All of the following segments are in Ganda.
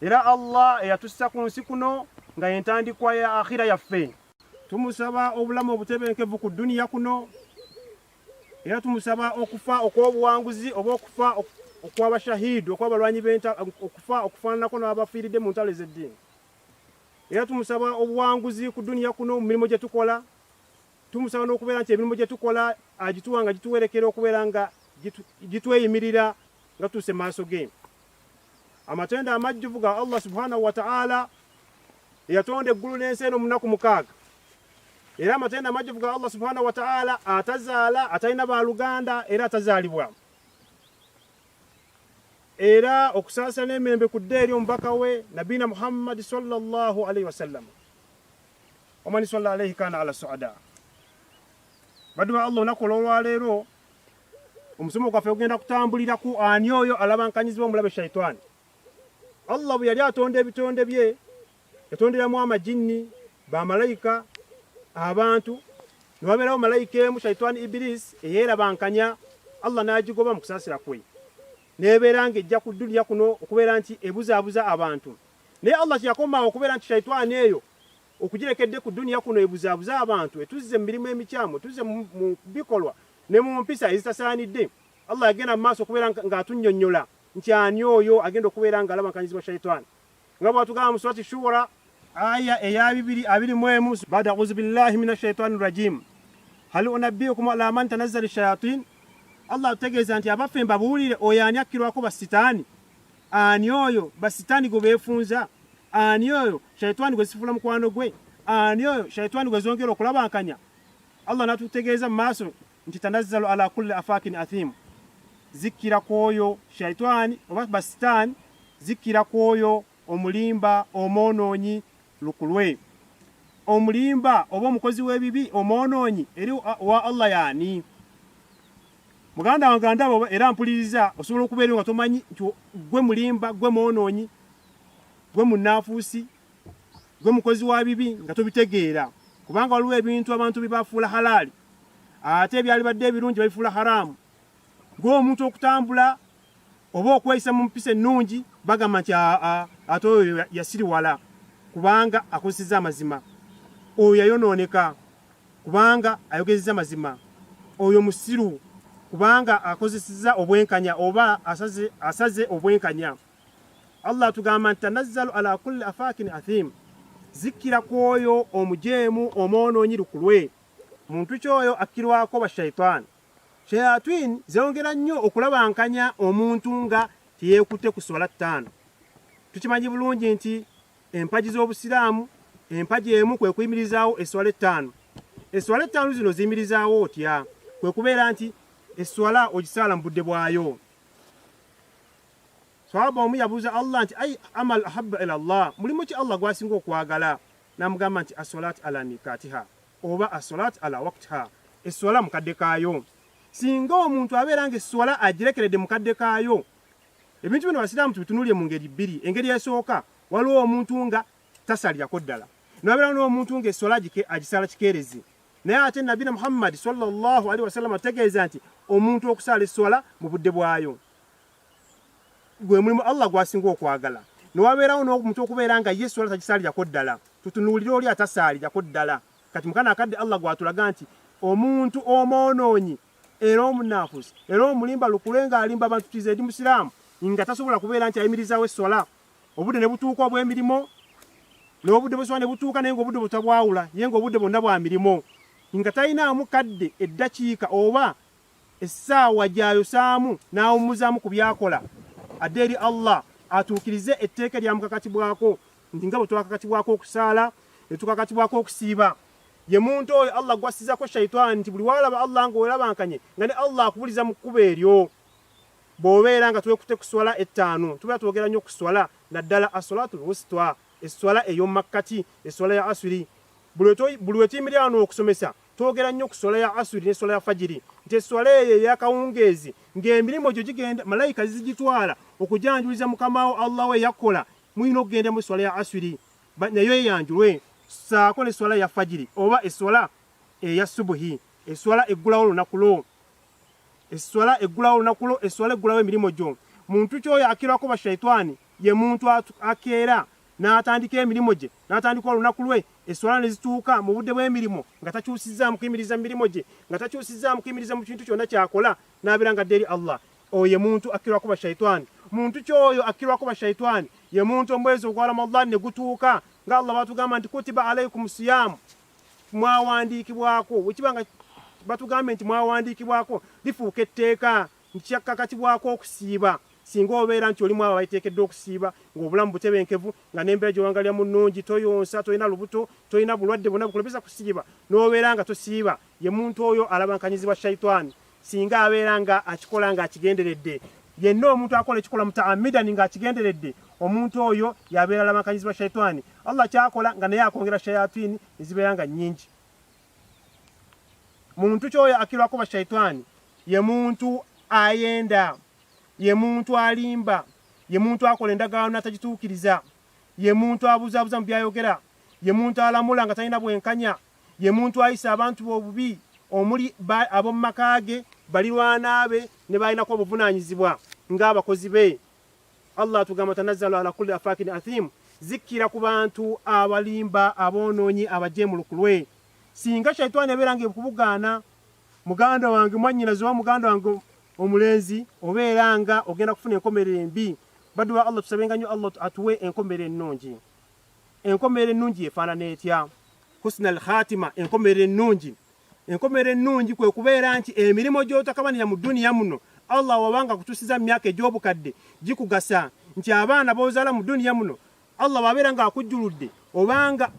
era Allah eyatussa ku nsi kuno nga yentandikwa ya akhira yaffe tumusaba obulamu obutebenkevu ku duniya kuno era tumusaba okufa okw'obuwanguzi oba okufa okw'abashahidi okw'abalwanyi okufa okufaananako n'abafiiridde mu ntalo ez'eddiini era tumusaba obuwanguzi ku duniya kuno mu mirimu gye tukola tumusaba n'okubeera nti emirimu gye tukola agituwa nga gituwerekera okubeera nga gitweyimirira nga tuuse maaso ge amatendo amajjuvu ga Allah subhanahu wa ta'ala eyatonda eggulu n'ensi eno munaku mukaaga era amatendo amajjuvu ga Allah subhanahu wa ta'ala atazaala atalina baluganda era atazaalibwa era okusaasira n'emirembe ku dda eri omubaka we nabiina muhammadi sallallahu alaihi wasallam omani salla alaihi kana ala suada baddu ba allah olunaku olwolwaleero omusomo gwaffe gugenda kutambulira ku ani oyo alabankanyizibwa omulabe shaitaani allah bwe yali atonda ebitonde bye yatonderamu amajinni bamalayika abantu newabeerawo malayika emu shaitaani ibirisi eyeerabankanya allah n'agigoba mu kusaasira kwe nebeera nga ejja ku duniya kuno okubeera nti ebuzaabuza abantu naye allah kyeyakomaawo okubeera nti shaitaani eyo Okugirekedde ku duniya kuno ebuzaabuza abantu, etuzze mu mirimu emikyamu, etuzze mu bikolwa ne mu mpisa ezitasaanidde, Allah yagenda mu maaso okubeera ng'atunnyonnyola nti ani oyo agenda okubeera ng'alabakanyizibwa shaitaani nga bw'atugamba mu surati Shuura aya eya bibiri abiri mu emu baada auzu billahi mina shaitaani rajim hal unabbiukum ala man tanazzala shayatin Allah atutegeeza nti abaffe mbabuulire oyo ani akkirwako basitaani Ani oyo basitaani gwe beefunza? Ani oyo shaitwani gwe zisifula mukwano gwe? Ani oyo shaitwani gwe zongera okulabankanya? Allah n'atutegeeza mu maaso nti tanazzalu ala kulli afaakin athimu, zikkira ku oyo shaitwani oba basitaani, zikkira ku oyo omulimba omwonoonyi lukulwe. Omulimba oba omukozi w'ebibi omwonoonyi eri wa Allah yaani? muganda wange andaba era mpuliriza osobola okubeera nga tomanyi nti gwe mulimba gwe mwonoonyi gwe munaafuusi gwe mukozi wa bibi nga tobitegeera kubanga waliwo ebintu abantu byebafuula halaali ate ebyali badde ebirungi babifuula haraamu ng'omuntu okutambula oba okweyisa mu mpisa ennungi bagamba nti ate oyo yasiriwala kubanga akozeseza amazima oyo yayonooneka kubanga ayogezza mazima oyo musiru kubanga akozeseza obwenkanya oba asaze, asaze obwenkanya allah atugamba nti tanazzalu ala kulli afakin athim zikkira ku oyo omujeemu omwonoonyi lukulwe muntu kyoyo akkirwako bashaitaani shayatwin zeyongera nnyo okulabankanya omuntu nga teyeekutte ku swala ttaano tukimanyi bulungi nti Empagi z'Obusiraamu, Empagi emu kwe kuyimirizaawo esswala ettaano. Esswala ettaano zino ziyimirizaawo otya? Kwe kubeera nti esswala ogisaala mu budde bwayo. Sahaba omu yabuuza Allah nti ai amal ahabba ila Allah, mulimu ki Allah gwasinga okwagala? N'amugamba nti aswalaat ala mikatiha oba aswalaat ala waktiha, esswala mu kadde kaayo. Singa omuntu abeera nga esswala agirekeredde mu kadde kaayo, ebintu bino abasiraamu tubitunulire mu ngeri bbiri engeri esooka waliwo omuntu nga tasalirako ddala nabeerawo n'omuntu nga eswala agisala kikeerezi naye ate nabina muhammadi salllah alihi wasallama tutegeeza nti omuntu okusaala eswala mu budde bwayo gwe mulimu allah gwasinga okwagala newabeerawo n'omuntu okubeera nga ye eswala tagisaalirako ddala tutunuulire oli atasaalirako ddala kati mukana akadde allah gwatulaga nti omuntu omwonoonyi era omunafusi era omulimba lukule nga alimba abantu tize ndi musiramu nga tasobola kubeera nti ayimirizawo esswala obudde ne butuuka obw'emirimu n'obudde bweswala ne butuuka naye nga obudde butabwawula ye nga obudde bwonna bwa mirimu nga talinaamu kadde eddakiika oba essaawa gy'ayosaamu n'awummuzaamu ku byakola adde eri allah atuukirize etteeka eryamukakatibwako nti nga bwe twakakatibwako okusaala ne tukakatibwako okusiiba Ye muntu oyo Allah gwassizako shaitani nti buli walaba Allah nga welabankanye nga ne Allah akubuliza mu kkubo eryo. Bwobeera nga twekute ku swala ettaano tubeera twogera nnyo ku swala naddala aswalatul wusitwa, esswala eyomumakkati, esswala ya aswiri. Buli wetuyimilira wano okusomesa twogera nnyo ku swala ya aswiri ne swala ya fajiri nti esswala eyo eyakawungeezi ng'emirimu gyo gigenda malayika zizigitwala okujanjuliza mukamawo Allah we yakkola mulina okugenda mu swala ya aswiri. ba, nayo eyanjulwe ssaako ne swala ya fajiri oba eswala eya subuhi eswala eggulawo olunaku lwo eswala eggulawo olunaku lwo eswala eggulawo emirimu gyo muntu kyoyo akirwako bashaitwani ye muntu akeera n'atandika emirimu gye n'atandika olunaku lwe eswala ne zituuka mu budde bw'emirimu nga takyusizaamu kuyimiriza mu mirimu gye nga takyusizaamu kuyimiriza mu kintu kyonna kyakola n'abeera nga dde eri allah Oyo ye muntu akkirwako bashaitaani. Muntu ki oyo akkirwako bashaitaani? Ye muntu omwezi ogwa Ramadhan ne gutuuka nga Allah batugamba nti kutiba alaikum siyaamu, mwawandiikibwako. Wekiba nga batugambye nti mwawandiikibwako lifuuka etteeka nti kyakkakatibwako okusiiba singa obeera nti oli mwabo abaiteekeddwa okusiiba ng'obulamu butebenkevu nga n'embeera gyewangalira mu nnungi toyonsa tolina lubuto tolina bulwadde bwonna bukulobeza kusiiba n'obeera nga tosiiba ye muntu oyo alabankanyizibwa shaitaani singa abeera nga akikola nga akigenderedde yenna omuntu akola ekikola mutaamidani nga akigenderedde omuntu oyo yabeera lamakanyizibwa shaitaani allah kyakola nga naye akwongera shayatini ezibeera nga nyingi muntu kyoyo akirwako bashaitaani ye muntu ayenda ye muntu alimba ye muntu akola endagaano natagituukiriza ye muntu abuzabuza mu byayogera ye muntu alamula nga talina bwenkanya Ye muntu ayisa abantu be obubi, omuli ba, ab'omu maka ge, balirwana be, ne baalinako obuvunaanyizibwa ng'abakozi be. Allah atugamba, Tanazzalu ala kulli afaakin athiim, zikkira ku bantu abalimba, aboonoonyi, abajeemu lukulwe. Singa Shaitaani ebeera ng'ekubugaana, muganda wange, mwannyinaze oba muganda wange omulenzi, obeera nga ogenda kufuna enkomerero embi. Baddu ba Allah, tusabenga nnyo Allah atuwe enkomerero ennungi. Enkomerero ennungi efaanana etya? husna al khatima enkomerero ennungi enkomerero ennungi kwe kubeera nti emirimu gy'otakabanira mu duniya muno allah wabanga kutusiza mu myaka egy'obukadde gikugasa nti abaana b'ozaala mu duniya muno allah bwabeera ng'akujjuludde obanga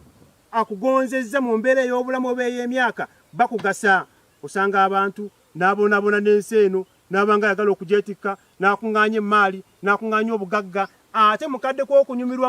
akugonzezza mu mbeera ey'obulamu oba ey'emyaka bakugasa osanga abantu n'abonaabona n'ensi eno n'abanga ayagala okugyetikka n'akuŋŋaanya emmaali n'akuŋŋaanya obugagga ate mukadde kw'okunyumirwa